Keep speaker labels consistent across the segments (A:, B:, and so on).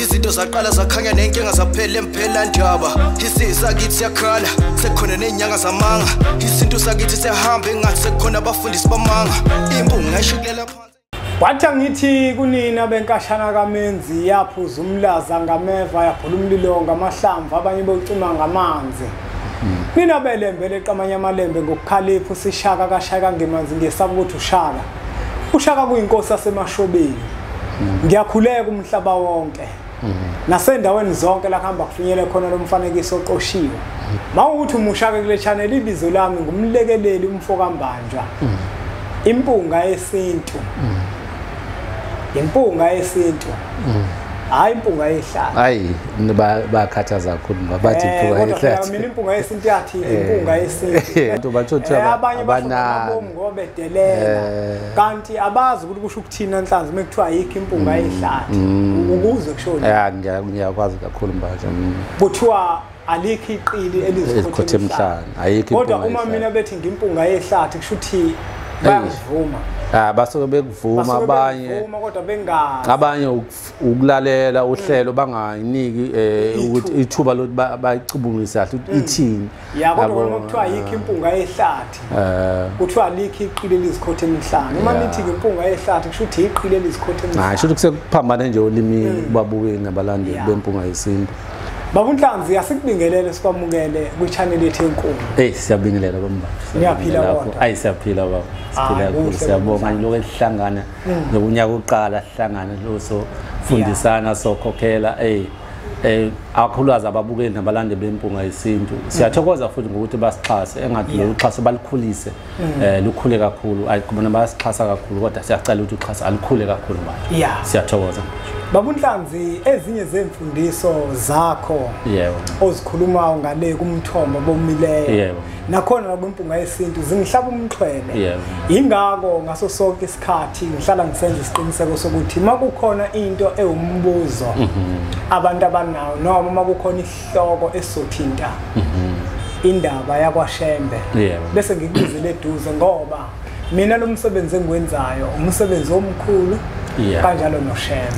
A: izinto zaqala zakhanya nenkinga zaphela emphela ndaba isizwe sakithi siyakhala sekhona ney'nyanga zamanga isintu sakithi siyahamba engathi sekhona abafundisi bamanga imbunga ishikulela wathi angithi
B: kunini abenkashana kamenzi yaphuza umlaza ngameva yabhula umlilo ngamahlamvu abanye bocima ngamanzi nina belembe leqamanye amalembe ngokukhalipha usishaka kashaka ngemanzi ngesaba ukuthi ushaka ushaka kuyinkosi yasemashobeni ngiyakhuleka umhlaba wonke nasendaweni zonke la kuhamba kufinyele khona lo mfanekiso oqoshiwe ma ukuthi umushake kule channel ibizo lami ngumlekeleli umfo kambanjwa impunga yesintu impunga yesintu hayi impunga yehlala hayi
C: bakhathaza kakhulu ngoba bathi impunga eh, yehlala mina impunga yesintu
B: yathi eh, impunga yesintu abantu bathi eh,
C: abanye abana ngobe delela
B: eh. kanti abazi ukuthi kusho ukuthina nhlanzi uma kuthiwa ayikho impunga mm. ehlathi mm. ukuze kushoni ya ngiyakwazi kakhulu
C: mbaje mm. kuthiwa
B: alikho iqili elizikhothe emhlanje
C: ayikho kodwa uma mina bethi
B: ngimpunga ehlathi kusho ukuthi bayakuvuma Ah basuke
C: bekuvuma abanye
B: abanye
C: ukulalela uhlelo banganiki eh, ukuthi ithuba lokuthi bayicubungise kahle ithini ya kodwa Yabo, uma kuthiwa
B: yikho impunga yehlathi Eh, kuthiwa likho iqili elizikhotha emihlane uma Yeah. nithi-ke impunga yehlathi kusho ukuthi yiqili elizikhotha hayi emihlane shuthi kusekuphambane
C: nje olimini kubabukeli nabalandeli Yeah. bempunga yesintu babunhlanzi
B: asikubingelele sikwamukele kwichaneli yethu enkulu eyi siyabingelela bamba
C: Niyaphila Lapho. kodwa?
B: ayi siyaphila baba siphila
C: Hayi, kakhulu kuhle, siyabonga kuhle. nje lokhu sihlangana nokunyaka uqala sihlangane lo sofundisana sokhokhela eyi eh akhulukazi ababukeli nabalande bempunga yesintu siyathokoza futhi ngokuthi basixhase engathi lo uxhaso balikhulise mm. eh lukhule kakhulu ayikubona basixhasa kakhulu kodwa siyacela ukuthi uxhaso alikhule kakhulu manje yeah. siyathokoza babunhlanzi
B: ezinye zemfundiso zakho yebo ozikhulumayo ngale kumthombo bomileyo yebo nakhona nakwimpunga yesintu zingihlaba umxhwele yebo ingako ngaso sonke khathi ngihlala ngisenza isiqiniseko sokuthi uma kukhona into ewumbuzo abantu abanawo noma uma kukhona isihloko esizothinta indaba yakwashembe bese ngikubizele eduze ngoba mina lo msebenzi engiwenzayo umsebenzi omkhulu kanjalo noshembe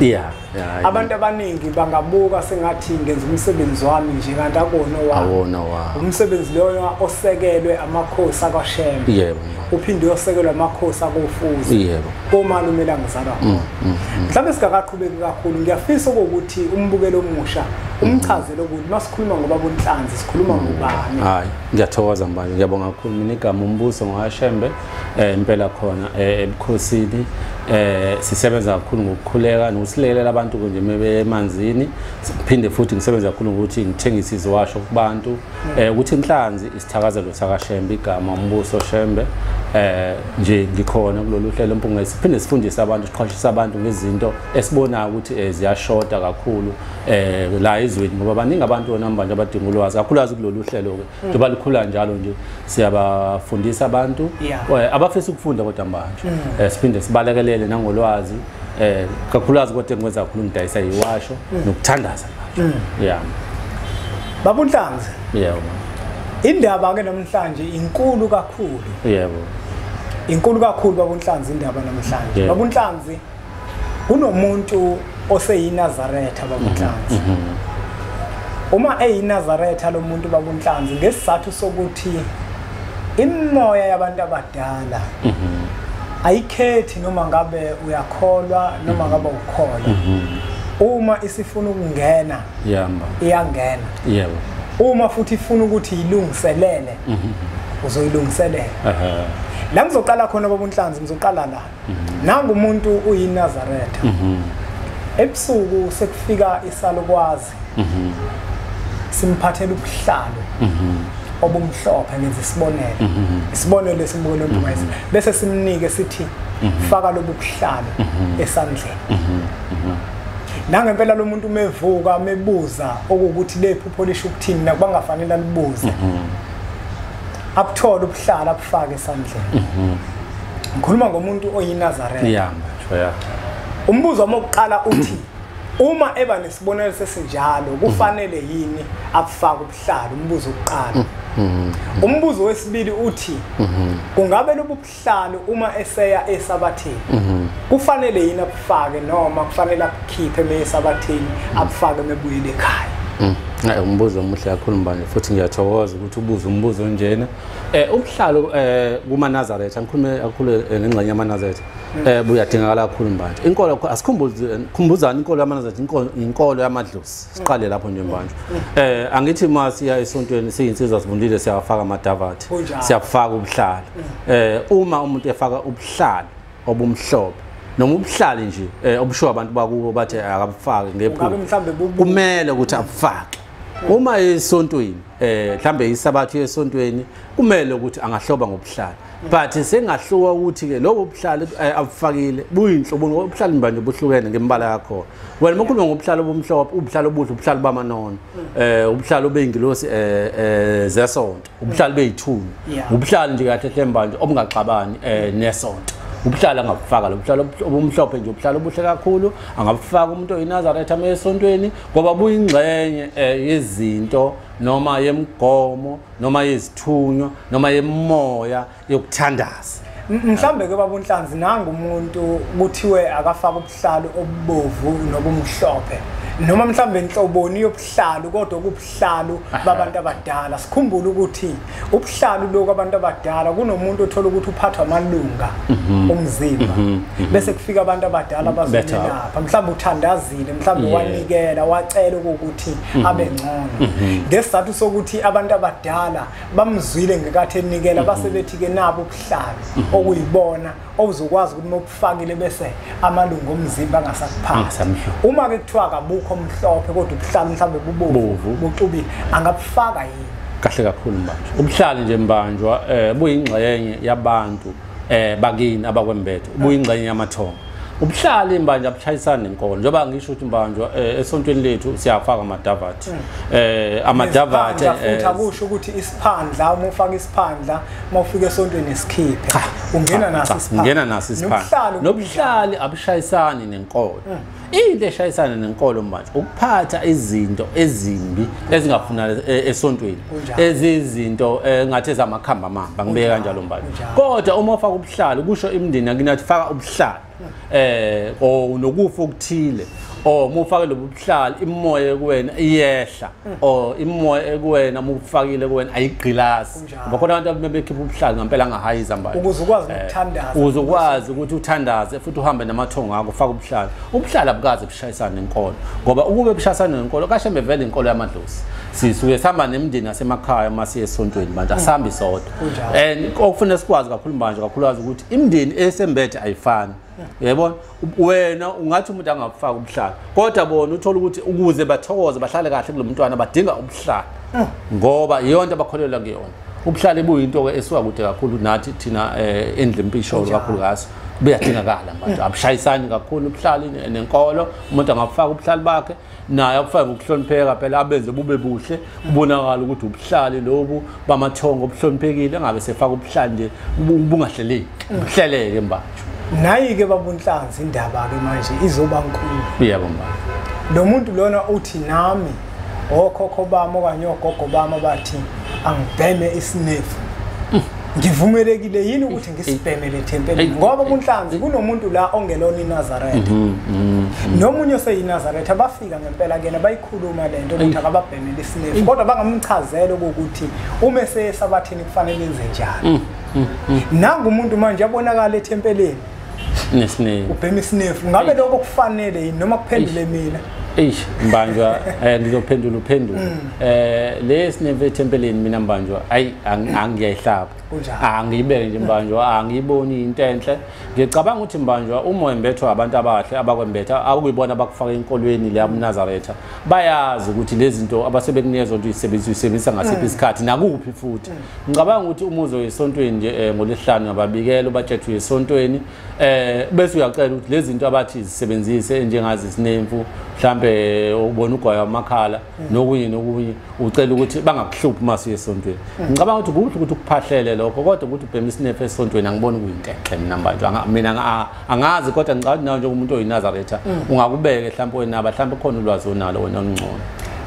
B: abantu abaningi bangabuka sengathi ngenza umsebenzi wami nje kanti akona awona wa umsebenzi loyo osekelwe amakhosi akwashembe yebo uphinde uyosekelwa amakhosi akofuzo yebo komalume langizalwa mm, mm, mm. mhlawumbe singakaqhubeki kakhulu ngiyafisa ukuthi umbukelo omusha umchazele ukuthi masikhuluma ngoba bonhlanzi sikhuluma ngobani hayi ngiyathokoza
C: mbanje ngiyabonga kakhulu mina igama umbuso ngowashembe eh impela khona eh, ebukhosini eh sisebenza kakhulu ngokukhuleka nokusilekelela abantu nje mebemanzini siphinde futhi ngisebenza kakhulu ngokuthi ngithengise iziwasho kubantu eh ukuthi inhlanzi isithakazelo sakashembe igama umbuso shembe eh nje ngikhona kulolu hlelo mpunga siphinde sifundise abantu siqhwashisa abantu ngezinto esibonayo ukuthi eh, ziyashoda kakhulu eh la izweni ngoba baningi abantu onamba nje abadinga ulwazi kakhulukazi kulolu hlelo ke njengoba likhula njalo nje siyabafundisa abantu eh, abafisa ukufunda kodwa manje mm. eh, siphinde sibalekelele nangolwazi eh kakhulukazi kodwa engikwenza kakhulu ngidayisa yiwasho mm. nokuthandaza mm. yeah babunhlanzi
B: yebo indaba ke namhlanje inkulu kakhulu yebo inkulu kakhulu babunhlanzi indaba namhlanje babunhlanzi kunomuntu oseyinazaretha bakunhlanzi mhm, mhm. uma eyinazaretha lo muntu bakunhlanzi ngesizathu sokuthi imimoya yabantu abadala mhm. ayikhethi noma ngabe uyakholwa noma ngabe ukholwa uma isifuna ukungena iyamba iyangena yebo uma futhi ifuna ukuthi ilungiselele uzoyilungiselela la ngizoqala khona babunhlanzi ngizoqala la Mhm. Nangu umuntu uyiNazaretha. Mhm. Ebusuku sekufika isalukwazi. Mhm. Simphathela ubuhlalo. Mhm. obumhlophe ngenza isibonelo mhm. isibonelo esimbukelo ndumase mhm. bese simnike sithi mhm. faka lobubuhlalo esandleni nangempela lo muntu umevuka mebuza okuwukuthi lephupho lisho ukuthini nakubangafanele alibuze abuthole ubuhlala abufake esandleni mhm. ngikhuluma ngomuntu oyinazaretha yeah, yeah.
C: umbuzo
B: wami wokuqala uthi uma eba nesibonelo sesinjalo kufanele yini abufake ubuhlalo umbuzo wokuqala mhm. umbuzo wesibili uthi mhm. kungabe lobu sihlalo uma eseya esabathini mhm. kufanele yini akufake noma kufanele akukhiphe meyesabathini mhm. akufake mebuyile ekhaya mhm. Hayi umbuzo omuhle
C: kakhulu mbane futhi ngiyathokoza ukuthi ubuze umbuzo onjena. Eh ubuhlalo eh kuma Nazareth angikhulume kakhulu eh, ngengxenye yama Nazareth. Mm. Eh buyadingakala kakhulu mbane. Inkolo asikhumbuzani inkolo yama Nazareth inkolo inkolo yamadlozi. siqale lapho nje manje eh angithi uma siya esontweni siyinsizwa sivundile siyafaka amadavathi siyafaka ubuhlala eh uma umuntu efaka ubuhlala obumhlophe noma ubuhlali nje eh, obushiwo abantu bakubo bathi eh, akabufaki ngephupho kumele ukuthi abufake uma esontweni eh mhlambe isabathu esontweni kumele ukuthi angahloba ngobuhlali but sengahluka ukuthi ke lobo buhlali eh, abufakile buyinhlobo obuhlali mbanje buhlukene ngembala yakho wena uma ukhuluma ngobuhlalo obumhlophe ubuhlalo obuhle ubuhlalo bamanono eh ubuhlalo beyingilosi eh, eh zesonto ubuhlalo beyithuni ubuhlalo nje kahle hle mbanje obungaxabani eh nesonto ubuhlalo angabufaka lo buhlalo obumhlophe nje ubuhlalo obuhle kakhulu angabufaka umuntu oyinazareth ame esontweni ngoba buyingxenye eh, yezinto noma yemigomo noma yezithunywa noma yemoya yokuthandaza mhlambe ke
B: baba unhlanzi nangu umuntu kuthiwe akafaka ubuhlalu obubovu nobumhlophe noma mhlambe inhloboni yobuhlalu kodwa kubuhlalu babantu abadala sikhumbule ukuthi ubuhlalu lokho abantu abadala kunomuntu othola ukuthi uphathwa amalunga mhm. omzimba mhm. Mhm. bese kufika abantu abadala bazolapha mhlambe uthandazile mhlambe wanikela wacela ukuthi abe ngcono ngesizathu sokuthi abantu abadala bamzwile ngekathi enikela base mhm. bethi-ke nabo ubuhlalo mhm. okuyibona okuzokwazi ukuthi mobufakile bese amalungu omzimba angasakuphathi ah, uma-ke kuthiwa kabukho omhlophe kodwa ubuhlalo mhlawumbe bubovu buxubile angabufaka yini kahle kakhulu mbanjwa
C: ubuhlali nje mbanjwa um buyingxenye yabantu eh bakini abakwembethe ubuyingxenye yamathongo ubuhlali mbanje abushayisani nenkolo njengoba ngisho ukuthi mbanje eh, esontweni lethu siyafaka amadavathi hmm. eh amadavathi futhi eh, akusho
B: ukuthi isiphandla uma ufaka isiphandla uma ufika esontweni esikhiphe ungena naso isiphandla ungena naso isiphandla nobuhlali
C: abushayisani nenkolo hmm. into eshayisana nenkolo manje ukuphatha izinto ezimbi ezingafuna e, esontweni ezizinto e, ngathi ezamakhamba mamba ngibeke kanjalo mbali kodwa uma ufaka ubuhlalo kusho imndeni yakinathi faka ubuhlalo eh o nokufa okuthile or uma ufake lobu buhlali imimoya ekuwena iyehla mm. or imimoya ekuwena uma ufakile kuwena ayigqilasi ngoba khona abantu abebekhipha ubuhlalu ngampela angahayi izambayo ukuze ukwazi eh, ukuthandaza
B: ukuze ukwazi ukuthi
C: uthandaze futhi uhambe namathongo akho faka ubuhlalu ubuhlalu abukaze bushayisane nenkolo ngoba ukube bushayisane nenkolo kashembe vele inkolo yamadlozi sisuke sihamba nemndeni asemakhaya uma siye esontweni manje asihambi sodwa and okufanele sikwazi kakhulu manje kakhulukazi ukuthi imndeni esembethe ayifani yebo wena ungathi umuntu angakufaka ubuhlala kodwa bona uthola ukuthi ukuze bathokoze bahlale kahle kulo mntwana badinga ubuhlala ah. ngoba iyona into abakholelwa kuyona ubuhlale buyinto-ke esuka kude kakhulu nathi thina um eh, endlempisholo kakhulu kaso buyadingakala manje abushayisani kakhulu ubuhlali nenkolo umuntu angabufaka ubuhlali bakhe naye akufake ngokuhlonipheka phela abenze bube buhle kubonakala ukuthi ubuhlali lobu bamathongo obuhloniphekile engabe sefaka ubuhlali nje ubungahleleki ubuhleleke mbajo nayi-ke
B: babunhlanzi indaba-ke manje izoba nkulu yebo mba
C: lo muntu
B: lona uthi nami okhokho bami okanye ogogo bami abathi angibheme isinefu mm. ngivumelekile yini ukuthi ngisibhemele thempeli ngoba kunhlanzi kunomuntu la ongelona inazaretha mhm, mhm, mhm. nomunye oseyinazaretha bafika ngempela kena bayikhuluma le nto ukuthi akababhemele isinefu kodwa bangamchazela ukuthi uma eseyesabathini kufanele enze njani nangu umuntu manje abonakala ethempeleni nesinefu
C: ubhema isinefu
B: ngabe lokho kufanele yini noma kuphendule mina eish mbanjwa
C: eh, ngizophendula uphendula um mm. eh, le sinefu ethempeleni mina mbanjwa ayi angiyayihlaba angiyibeke nje mbanjwa angiyiboni into enhle ngicabanga ukuthi mbanjwa uma wembethwa abantu abahle abakwembetha akuyibona abakufaka enkolweni leya mnazaretha bayazi ukuthi lezi zinto abasebekunikeza onto uyisebenzisa uyisebenzisa ngasiphi mm. isikhathi nakuphi futhi mm. ngicabanga ukuthi uma uzoya esontweni nje um eh, ngolesihlanu ngababikela ubatshethwe esontweni um bese uyacela ukuthi lezi zinto abathi zisebenzise njengazi zinemfu mhlawumbe ubona ugwayo amakhala nokunye nokunye ucela ukuthi bangakuhluphi uma siye esontweni ngicabanga ukuthi kuhle ukuthi ukuphahlele lokho kodwa ukuthi ubhema isinephe esontweni angiboni kuyintehle mina mbantu mina angazi kodwa ngicabanga ukuthi nawe njengomuntu oyinazaretha mm. ungakubeke mhlawumpe wenaba mhlawumpe khona ulwazi onalo wena olungcono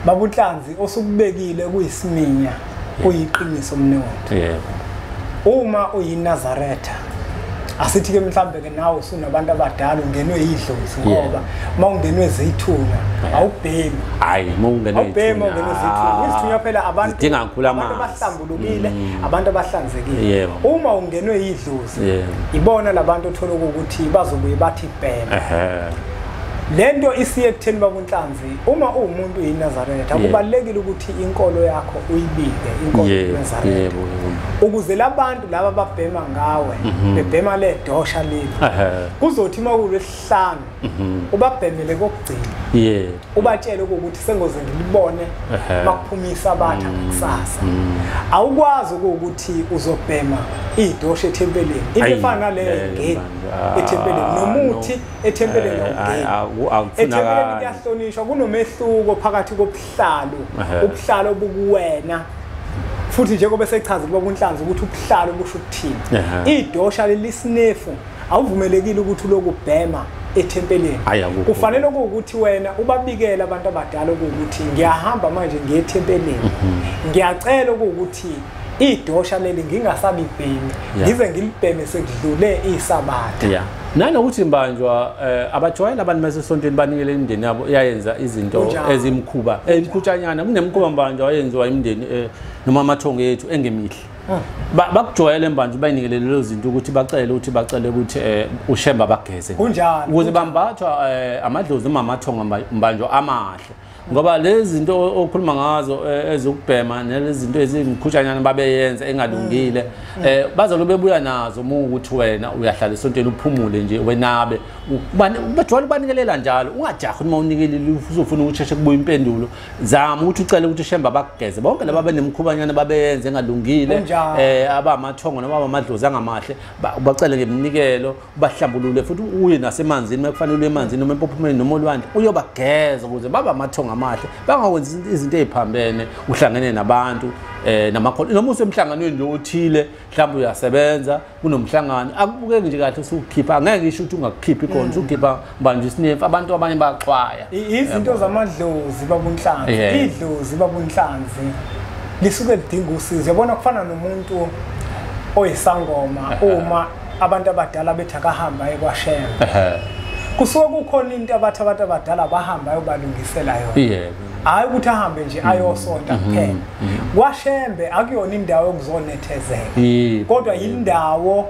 C: babunhlanzi
B: osukubekile kuyisiminya uyiqiniso mnewethu yebo uma uyinazaretha asithi ke mhlambe ke nawe usunabantu abadala ungenwe yidlozi ngoba uma ungenwe zithuna awubhemi hayi uma ungenwe
C: awubhemi ungenwe zithuna ah.
B: izithunya phela abantu dinga ngikhula amanzi abantu
C: abahlambulukile
B: mm. abantu abahlanzekile uma ungenwe yidlozi ibona labantu othola ukuthi bazobuye bathi bhema lento isiye ekutheni babunhlanzi uma uwumuntu uyinazaretha yeah. kubalulekile ukuthi inkolo yakho uyibike inkolo yeah. yenazaretha yeah. ukuze labantu laba babhema ngawe mm -hmm. bebhema le dosha leli uh -huh. kuzothi uma kulwesihlanu mm -hmm. ubabhemele kokugcina yeah. ubatshele ukuthi sengoze ngilibone uh -huh. makuphumisa abatha mm -hmm. kusasa mm -hmm. awukwazi ukuthi uzobhema idosha ethempeleni into efana naleyo yeah, ngeni yeah, ethempeleni nomuthi no. ethempeleni eh, ethempeleni kuyahlonishwa kunomehluko phakathi kobuhlalo ubuhlalo obukuwena futhi njengoba sechaza kuba kunhlanzi ukuthi ubuhlalo busho ukuthini idosha lelisinefu awuvumelekile ukuthi lokubhema ethempeleni kufanele ukuthi wena ubabikele abantu abadala ukuthi ngiyahamba manje ngiyethempeleni mhm. ngiyacela ukuthi idosha leli ngingasalibhemi ngize ngilibheme sekudlule isabatha yeah nanokuthi
C: mbanjwa eh, abajwayeli abantu basesontweni banikele imindeni yabo iyayenza izinto ezimkhuba emkhutshanyana eh, kunemkhuba mbanjwa wayenziwa imindeni eh, noma amathongo ethu engemihle hmm. bakujwayele mbanjwa bayinikele lezo zinto ukuthi bacele ukuthi bacele ukuthi ushemba bageze ukuze
B: bambathwa
C: amadlozi noma amathongo mbanjwa amahle ngoba lezi zinto okhuluma ngazo eh, ezokubhema nalezi zinto ezimkhutshanyana babeyenza engalungile mm. eh bazalo bebuya nazo uma ukuthi wena uyahlala esontweni uphumule nje wenabe bajwayele ubanikelela njalo ungajahi uma unikelile uzofuna ukusheshe kubuya impendulo zama ukuthi ucele ukuthi shemba bakugeze bonke laba benemkhubanyana babeyenza engalungile eh abamathongo noma abamadlozi angamahle ubacele ngeminikelo bahlambulule futhi uye nasemanzini uma kufanele uye emanzini noma empophumeni noma olwandle uyobageza ukuze babe amathongo amahle bangawenzi izinto eziphambene uhlangene nabantu eh namakhono noma usemhlanganweni nje othile mhlawumbe uyasebenza kunomhlangano akubukeki nje kahle usukhipha ngeke ngisho ukuthi ungakukhiphi khona usukhipha banje isinefu abantu abanye baxwaya izinto
B: zamadlozi babunhlanzi idlozi babunhlanzi lisuke lidinga usizo yabona kufana nomuntu oyisangoma uma abantu abadala bethi akahamba aye kwashema kusuke kukhona into abathi abantu abadala bahamba ayobalungisela yona hhayi ukuthi ahambe nje mm-hmm. ayosonta mm-hmm. kuphela mm-hmm. kwashembe akuyona indawo yokuzonethezeka kodwa yindawo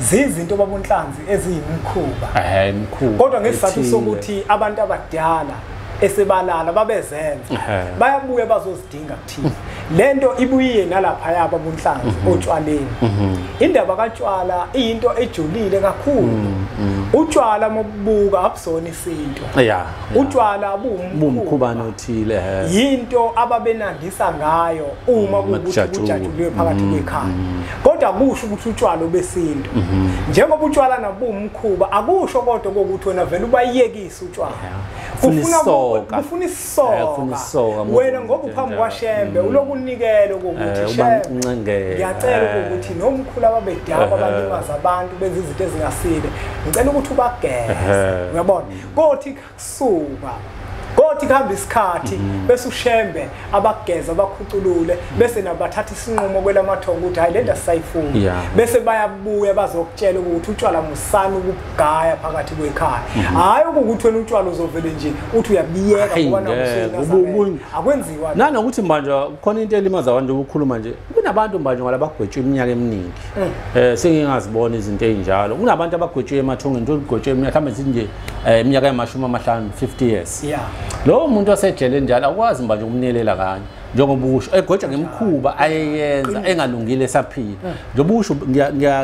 B: zizinto baba uNhlanzi eziyimkhuba ehe imkhuba kodwa ngesizathu ethile. sokuthi abantu abadala esebalala babezenza Ehhe. bayabuya bazozidinga kuthina lento ibuyiye nalapha yaba bunhlanzi Mhm. otshwaleni indaba katshwala iyinto ejulile kakhulu Mhm. utshwala mokubuka abusona isinto ya ya. utshwala buwumkhuba bumkhubane
C: othile ehe yinto
B: ababenandisa ngayo uma kuwukuthi kujatshulwe. kujatshulwe phakathi kwekhaya kodwa kusho ukuthi utshwala obesintu mhm. njengoba utshwala nabumkhuba akusho kodwa kokuthi wena vele ubayekise utshwala kufuna kufuna isoka wena ngoba uphambi kwashembe mm. ulokunikele kokuthi eh, shembe ngiyacela eh. ukuthi nomkhulu ababedaba eh. abalimaza abantu benza izinto ezingasile ngicela ukuthi ubageze uyabona kothi suka kothi kuhamba isikhathi mm-hmm. bese ushembe abageza bakhuculule bese nabathatha isinqumo kwelamathongo ukuthi hayi lento asisayifuni bese bayabuya bazokutshela ukuthi utshwala musani ukugaya phakathi kwekhaya mm-hmm. hayi ukuthi wena utshwala uzovele nje uthi uyabiyeka ngoba nakusuke akwenziwa nanokuthi manje
C: khona into elimaza abantu ukukhuluma nje kunabantu manje ngoba labagwetshwa iminyaka eminingi mm. eh sengingazibona izinto ezinjalo kunabantu abagwetshwe emathongeni into ligwetshwe iminyaka mhlawumbe nje eh iminyaka yamashumi amahlanu 50 years yeah lowo muntu osejele njalo akwazi manje ukumnelela kanye njengoba usho egoja ngemkhuba ayeyenza engalungile esaphila eh. njengoba usho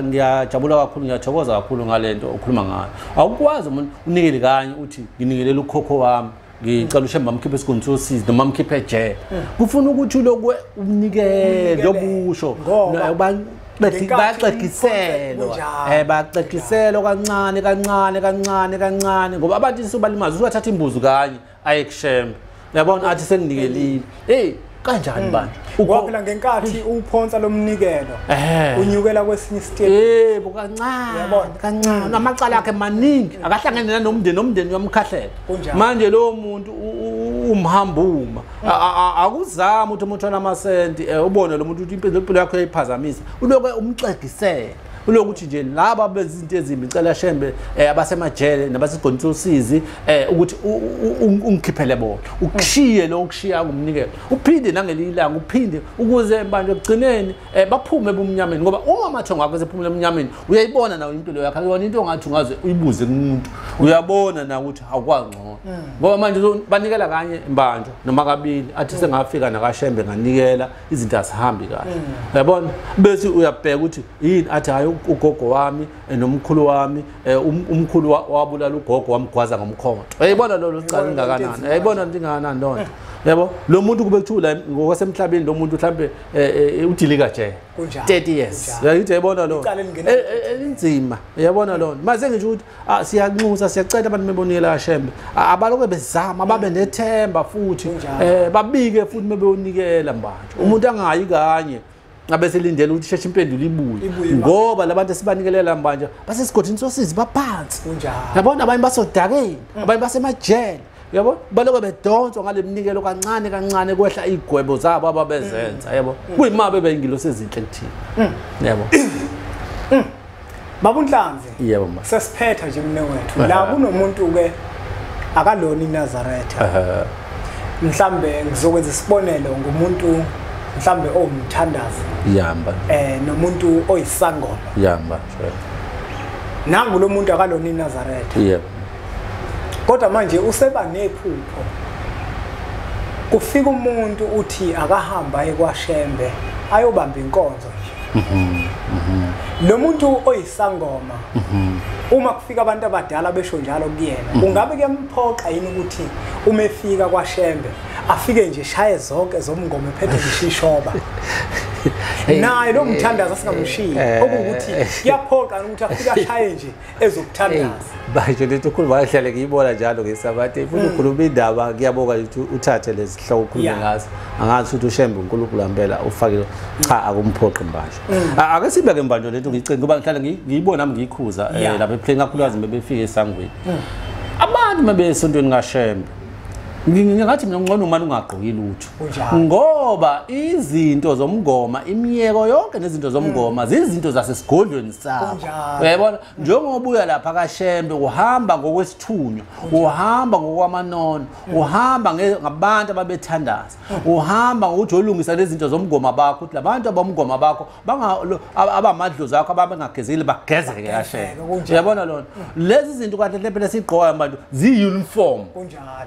C: ngiyajabula kakhulu ngiyathokoza kakhulu ngalento okhuluma ngayo awukwazi umuntu unikele kanye uthi nginikelela ukhokho wami ngicela ushe mamkhiphe esigundu sosizi noma mkhiphe ejele kufuna ukuthi ulokwe umnikele obusho bayaxegiselwa um bayaxegiselwa kancane kancane kancane kancane ngoba abantu isuba limazi usubathatha imbuzi kanye aye kushembe uyabona athi senginikelile hey kanjani hmm. bandla waphela ngenkathi
B: uphonsa lomnikelo eh. unyukela kwesinye isitepe yebo kancane yabona
C: kancane hmm. amacala akhe maningi akahlangene nanomndeni nomndeni uyamkhahlela manje lo muntu umhambuma hmm. akuzama ukuthi umuntu onamasenti eh, ubone lo muntu ukuthi impilo yakhe uyayiphazamisa uloke umxegisele kulokuthi nje laba abenza izinto ezimbi ngicela shembe eh, abasemajele nabasegonisa usizi eh, ukuthi ungikhiphele bona ukushiye lo ukushiya ngumnikelo uphinde nangelinye ilanga uphinde ukuze manje ekugcineni eh, baphume ebumnyameni ngoba uma amathongo akho esephumela emnyameni uyayibona nawo impilo yakho akuyona into ongathi ungaze uyibuze kumuntu uyabona na ukuthi awukwangcono hmm. ngoba manje banikela kanye mbanjwa noma kabili athi hmm. sengafika nakashembe nganikela izinto azihambi kahle mm. yabona bese uyabheka ukuthi yini athi hayi ugogo wami eh, nomkhulu wami eh, um, umkhulu wabulala ugogo wamgwaza ngomkhonto yayibona lolo licala lingakanani yayibona ndingakanani loo nto yabo lo muntu kube kuthiwa la ngokwasemhlabeni lo muntu mhlambe eh, eh, udilika nje 30 years yayithi yayibona lo inzima yabona lo maze ngisho ukuthi Ah, siyanxusa siyacela abantu bebonile kashembe ah, abaloke bezama babe mm. nethemba futhi eh babike futhi bebeyonikela manje mm. umuntu angayi kanye abeselindela ukuthi sheshe impendulo ibuye ngoba labantu esibanikelela manje basesigodini sosizi baphansi yabona abanye basodakeni mm. abanye basemajele yabo baloke bedonswa ngale mnikelo kancane kancane kwehla iy'gwebo zabo ababezenza mm. yabo mm. kuyima bebeyingilosi ezinhle kuthina mm. yabo
B: babunhlanzi yebo ma sesiphetha
C: nje mne wethu
B: la kunomuntu-ke akalona inazaretha mhlambe ngizokwenza isibonelo ngumuntu mhlambe owumthandazi yamba
C: eh nomuntu
B: oyisangoma yamba nangu lo muntu akalona inazaretha yebo
C: kodwa
B: manje useba nephupho kufika umuntu uthi akahamba ekwashembe ayobamba inkonzo nje mhm, mhm. lo muntu oyisangoma mhm. uma kufika abantu abadala besho njalo kuyena ungabe kuyamphoqa yini ukuthi uma efika kwashembe afike nje shaye zonke zomngoma ephethe ngishishoba naye lo mthandazo singamshiyi eh, eh, okuwukuthi eh. kuyaphoqa ukuthi afike ashaye nje ezokuthandaza manje lento
C: ukhuluma ngahlale ngiyibona njalo ngesabathe ifuna mm. ukhuluma indaba ngiyabonga ukuthi uthathe lezi hloko ukhulume ngazo angazi ukuthi ushembe unkulunkulu ampela ufakile cha akumphoqi mbanje mm. ake sibe ke mbanje lento ngicinga ngoba ngihlale ngiyibona nami ngiyikhuza eh, lapha ephlenga kakhulukazi bebefike esangweni mm. abantu mabesontweni kashembe ngingathi mina ngcono umane ungagqoki lutho ngoba izinto zomngoma imiyeko yonke nezinto zomngoma hmm. zizinto zasesigodlweni sakho uyayibona njengoba uya lapha kashembe uhamba ngokwesithunywa uhamba ngokwamanono hmm. uhamba ngabantu ababethandaza hmm. uhamba ngokuthi olungisa lezinto zomngoma bakho ukuthi labantu abomngoma bakho banga abamadlozi akho ababengagezile bagezeke kahle uyabona lona lezi zinto kanti le phela sigqoka abantu ziyi-uniform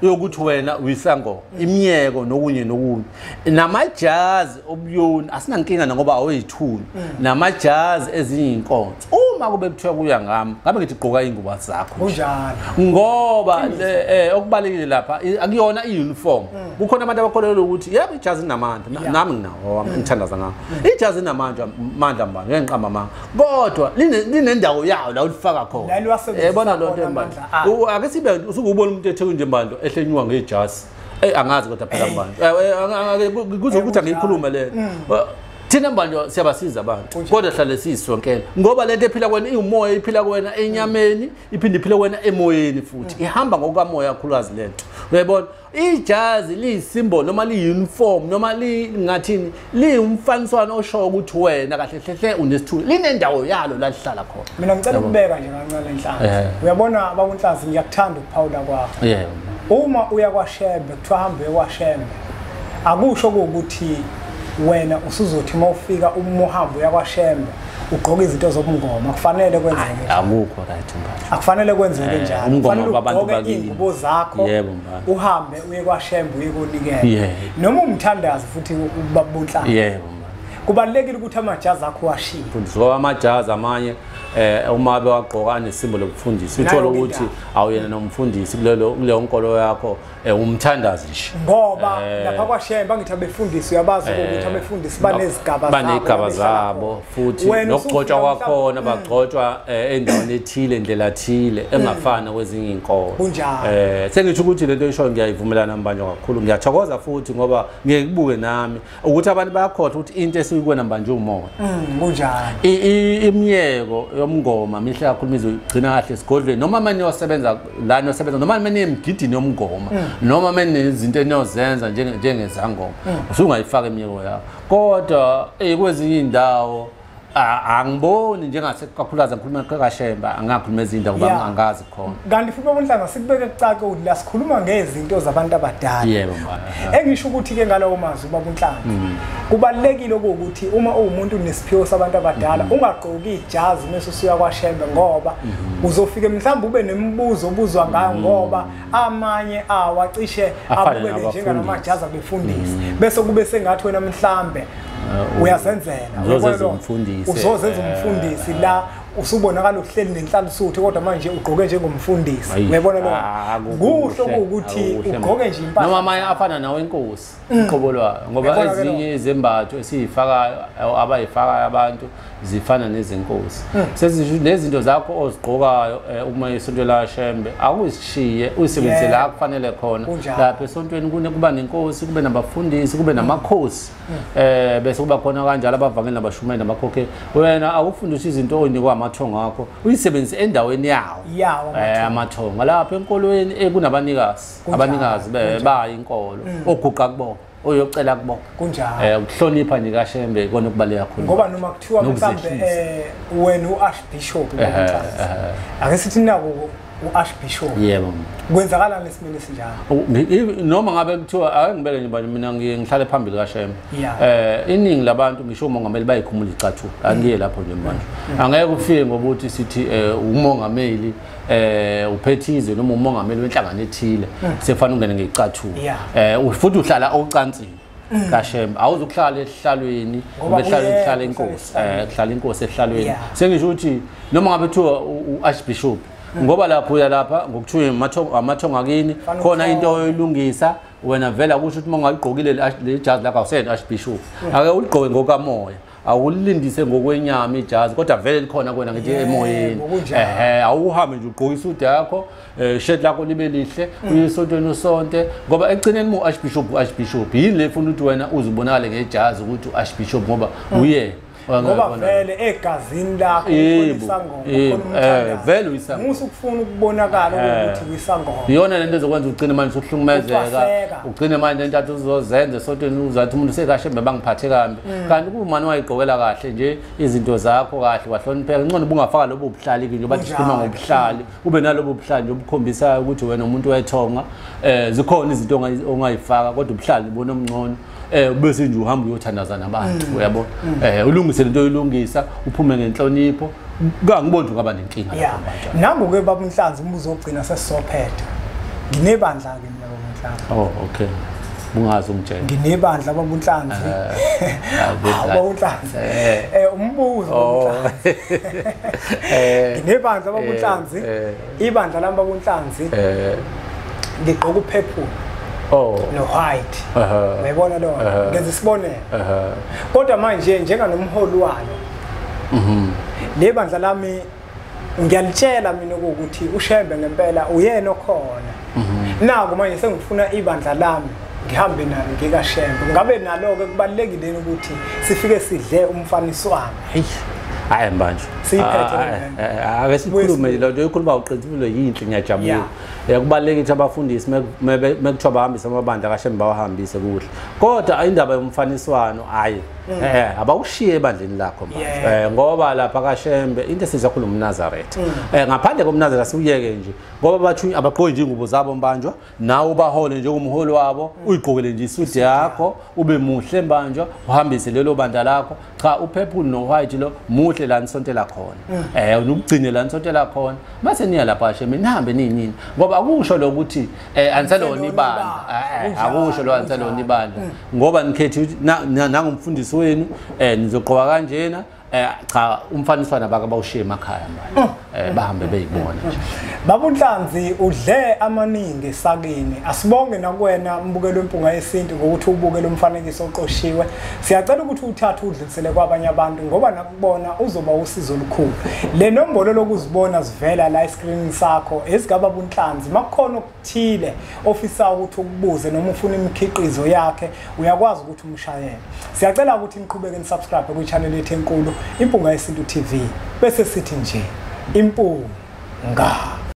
C: yokuthi wena uyisango mm. imiyeko nokunye nokunye namajazi obuyoni asinankinga nangoba aweyithuni mm. namajazi ezinye iy'nkonzo uma kube kuthiwa kuya ngami ngabe ngithi gqoka iy'ngubo zakho kunjalo
B: ngoba
C: eh, eh, okubalulekile lapha akuyona i-uniform mm. kukhona abantu abakholelwa ukuthi yebo ijazi linamandla nami nginawo wami mm. ngithandaza ngako mm. ijazi linamandla mandla mbani ngeke ngiqamba amanga kodwa linendawo yawo la ulifaka khona yabona eh, loo nto embandla ah. ake sibe usukubona umuntu ethe kunje mbandla ehlenywa ngejazi eyi angazi kodwa phela mbandla kuzokuthi angiyikhulume lena thina mbanjwa siyabasiza abantu kodwa hlale siyisonkela ngoba lento ephila kwena iwumoya iphila kwena enyameni iphinde iphile kwena emoyeni futhi mm. ihamba ngokukamoya kakhulukazi le nto uyayibona ijazi liyisimbolo noma liyi-uniform noma lingathini liwumfaniswano oshoyo ukuthi wena kahle hlehle unesithulu linendawo yalo la lihlala khona mina ngicela ukubeka nje
B: kancane nhlazi uyabona bakunhlazi ngiyakuthanda ukuphawula kwakho uma uya kwashembe kuthiwa hambe kwashembe akusho kuwukuthi wena usuzothi uma ufika uma uhambe uya kwashembe ugqoke izinto zobungoma akufanele kwenzeke akukho right manje
C: akufanele kwenzeke eh,
B: njalo umngoma wabantu bakini
C: ingubo zakho yebo
B: manje uhambe
C: uye kwashembe
B: uye konikela noma umthandazi futhi ubabunhlanga yebo
C: kubalekile
B: ukuthi amajazi akho washiye mfundisi ngoba amajazi
C: amanye eh uma bewagqoka nesimbo lokufundisa uthola ukuthi awuyena nomfundisi kulelo kuleyo nkolo yakho Eh umthandazi nje. Ngoba eh. lapha
B: kwaShembe angithi abefundisi uyabazi eh. ukuthi abefundisi banezigaba zabo. Banezigaba
C: zabo futhi nokugcotshwa kwakhona mm. bagcotshwa eh, endaweni ethile indlela ethile mm. engafana kwezinye inkolo. Kunjalo. Eh sengithi ukuthi lento isho ngiyayivumelana mbanjwa kakhulu. Ngiyathokoza futhi ngoba ngeke kubuke nami ukuthi abantu bayakhohlwa ukuthi into esiyikona manje umoya mm, kunjani
B: imiyeko
C: yomngoma mihle kakhulu mize ugcina kahle esigodlweni noma mani yosebenza la niyosebenza noma mani emgidini yomngoma mm. noma mani izinto eniyozenza njengezangoma mm. usungayifaka imiyeko yakho kodwa eh, kwezinye iy'ndawo angiboni njengase kakhulukazi ngikhuluma kashemba angakhuluma ezinda ngoba yeah. angazi khona kanti futhi obunhlanga
B: sikubeke kucake ukuthi la sikhuluma ngezinto zabantu abadala yebo yeah,
C: engisho ukuthi
B: ke ngalawo mazwi babunhlanga mm. kubalekile ukuthi uma uwumuntu unesiphiwo sabantu abadala mm. ungagqoki ijazi mase usuya kwashembe ngoba mm. uzofike mhlawumbe ube nemibuzo obuzwa ngayo mm. ngoba amanye awo acishe abukeke njengalamajazi abefundisi mm. bese kube sengathi wena mhlambe uh, uyazenzela uzozenza
C: umfundisi uzozenza eh. umfundisi la
B: usubonakala uhleli nenhlalisuthi kodwa manje ugqoke njengomfundisi uyabona lo ah, kusho ukuthi ugqoke nje impahla noma amanye afana nawe
C: inkosi Mm. uqobo lwayo ngoba ezinye izembatho esiyifakayo abayifakayo abantu zifana nezenkosi mm. sezinezinto zakho ozigqokayo eh, uma isonto lashembe akuzishiye uyisebenzise la kufanele khona lapha esontweni kuba nenkosi kube nabafundisi kube namakhosi mm. eh bese kuba khona kanjalo abavangeli nabashumayeli nabakhokhe wena awufundishe izinto oyinikwa amathongo akho uyisebenzise endaweni yawo eh, amathongo lapha enkolweni ekunabanikazi abanikazi bebayi inkolo mm. oguqa kubona oyocela kubona kunjalo eh ukuhlonipha
B: nje
C: kashembe ikona okubaleka kakhulu ngoba noma kuthiwa
B: mhlambe eh wena uarchbishop ake sithi nako uarchbishop yebo
C: kwenzakalani lesimene
B: sinjalo noma ngabe kuthiwa
C: ake ngibeke nje bani mina ngihlale phambili kashembe eh iningi labantu ngisho umongameli bayikhumula icathu angiye lapho nje manje mm. angeke ufike ngokuthi sithi eh, umongameli eh uphethize noma umongameli wenhlangano ethile mm. sefana ungene ngecathulo eh futhi uhlala ocansini mm. kashembe awuzukuhlala ehlalweni ngoba ehlala ehlala inkosi eh kuhlala inkosi ehlalweni sengisho ukuthi noma ngabe kuthiwa uarchbishop mm. ngoba lapho uya lapha ngokuthiwa amathongo amathongo akini khona into oyilungisa wena vela kusho ukuthi uma ungayigqokile le jazi lakho awuseyena archbishop ake uligqoke ngokamoya awulindise ngokwenyama ijazi kodwa vele likhona kwena ngithi emoyeni ehe awuhambe nje ugqoka isudu yakho eh shirt lakho libe lihle mm. uyisontweni usonte ngoba ekugcineni mu archbishop uarchbishop yini le funa ukuthi wena uzibonakale ngejazi ukuthi uarchbishop ngoba mm. uye ngoba
B: vele egazini lakho eh vele uyisangoma
C: musa ukufuna ukubonakala
B: eh. ukuthi uyisangoma iyona lento ezokwenza
C: ugcine manje ukuhlukumezeka ugcine manje intathu uzozenza sontweni uzathi umuntu sekashe mbe bangiphathe kambi mm. kanti kuwumani wayigqokela kahle nje izinto zakho kahle wahlonipheka ngcono ubungafaka lobo buhlali nje bathi sikhuluma ngobuhlali ube nalobo buhlali nje obukhombisa ukuthi wena umuntu wethonga eh zikhona izinto ongayifaka kodwa ubuhlali bona omncono eh bese nje uhamba uyothandaza nabantu mm. uyabo mm. eh ulungise lento oyilungisa uphume ngenhlonipho kangiboni ngaba nenkinga lapho manje nangu ke baba Mhlanzi
B: umbuzo ogcina sesizophetha nginebandla ke mina baba Mhlanzi oh okay
C: ungazi ungitshela nginebandla baba
B: uNhlanzi eh, baba uNhlanzi eh. eh umbuzo baba uNhlanzi oh. eh. nginebandla baba uNhlanzi ibandla lami bakunhlanzi eh ligqoka upurple oh no white uyayibona lo ngenza isibonelo kodwa manje njenga nomholi walo mhm le bandla lami ngiyalitshela mina ukuthi ushembe ngempela uyena okhona mhm. naku manje sengifuna ibandla lami ngihambe nalo ngikashembe ngabe nalo-ke kubalulekile ukuthi sifike sidle umfaniswano
C: Hey. hayi manje ake sikhulume lo nto ikhuluma uqinisile yinhle ngiyajabula kubalulekile ukuthi abafundisi mekuthiwa bahambise amabandla kashe bawahambise kuhle kodwa indaba yomfaniswano hayi mm. eh, eh abawushiye ebandleni lakho manje eh, ngoba lapha kaShembe into esizakhuluma uMnazareth mm. eh ngaphandle koMnazareth siwuyeke nje ngoba bathunywa abaqoyi nje ingubo zabo mbanjwa nawe ubahole njengomholi wabo uyigqokele nje isude yakho ube muhle mbanjwa uhambise lelo bandla lakho cha upurple no-white lo muhle la nisontela khona um eh, nukugcine la nisontela khona mase niya lapho asheme nihambe ninini ngoba akusho lo ukuthi um eh, aniselona ibandla eh, akusho lo aniselona ibandla ngoba nikhethi ukuthi nangumfundisi wenu um nizogqoka kanjena Eh cha umfaniswana baka bawushiye emakhaya manje. Mm. Eh bahambe beyibona nje. Babunhlanzi
B: udle amaningi sakini. Asibonge nakwena mbukelo impunga yesintu ngokuthi ubuke lo mfanekiso oqoshiwe. Siyacela ukuthi uthathe udlulisele kwabanye abantu ngoba nakubona uzoba usizo olukhulu. Le nombolo lokuzibona zivela la e-screen sakho esigaba bunhlanzi makukhona thile ofisa ukuthi ukubuze noma ufuna imikhiqizo yakhe uyakwazi ukuthi umshayele siyacela ukuthi niqhubeke nisubscribe kwichannel yethu enkulu impunga yesintu tv bese sithi nje impunga